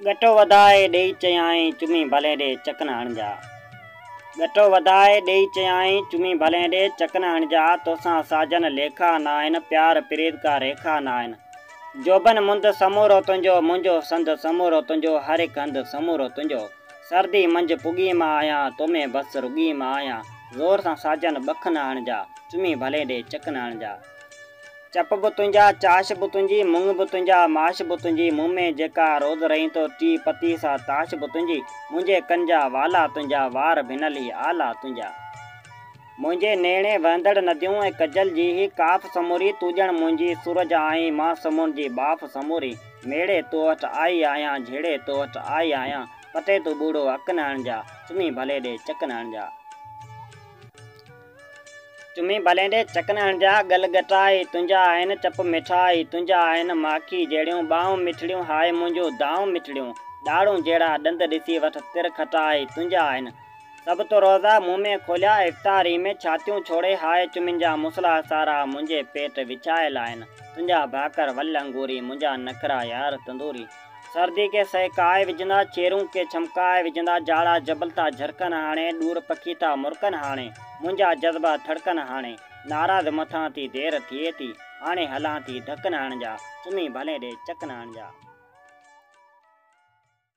ڳٽو وڌائي ڏيئي چيائين چمي ڀلين ڏي چڪن هڻجا. ڳٽو وڌائي ڏيئي چيائين چمي ڀلين ڏي چڪن هڻجا توسان ساجن ليکا ناهن پيار پريت ڪا ريکا ناهن جوڀن مند سمورو تنهنجو منهنجو سنڌ سمورو تنهنجو هر هڪ هنڌ سمورو تنهنجو سردي منجهه پڳي مان آهيان تو ۾ بس رڳي مان آهيان زور سان ساجن ٻک نه هڻجا چمي ڀلين ڏي چڪن هڻجا. چپ به تنهنجا، چاش به تنهنجي، مڱ به تنهنجا، ماش به تنهنجي، مون ۾ جيڪا روز رئين ٿو ٽي پتي سا تاش به تنهنجي، منهنجي ڪن جا والا تنهنجا، وار ڀنل هي آلا تنهنجا. منهنجي نيڻي وهندڙ نديون ۽ ڪجل جي هي ڪاف سموري، تون ڄڻ منهنجي سورج آهين، مان سمنڊ جي ٻاڦ سموري، ميڙي تو وٽ آئي آهيان، جهيڙي تو وٽ آئي آهيان، پتي تون ٻوڙو اڪ نه هڻجا، چمي ڀلي ڏي چڪ نه هڻجا. چمي ڀلين ڏي چڪن هڻجا، ڳل ڳٽائي، تنهنجا آهن چپ مٺائي، تنهنجا آهن ماکي جهڙيون ٻانهون مٺڙيون، هاء منهنجون دانهون مٺڙيون، ڏاڙهون جهڙا ڏند ڏسي وٺ تر کٽائي، تنهنجا آهن سڀ تو روزا، مون ۾ کوليا افطاري ۾، ڇاتيون ڇوڙي هاء چمين جا مصلا سارا، منهنجي پيٽ وڇايل آهن تنهنجا ڀاڪر ول انگوري، منهنجا نخرا يار تندوري. سردي کي سهڪائي وجهندا، چيرون کي ڇمڪائي وجهندا، جاڙا جبل ٿا جهرڪن هاڻي، ڏور پکي ٿا مرڪن هاڻي، منهنجا جذبا ٿڙڪن هاڻي، ناراض مٿان ٿي دير ٿئي ٿي، هاڻي هلان ٿي ڌڪ نه هڻجا، سمهي ڀلين ڏي چڪ نه هڻجا.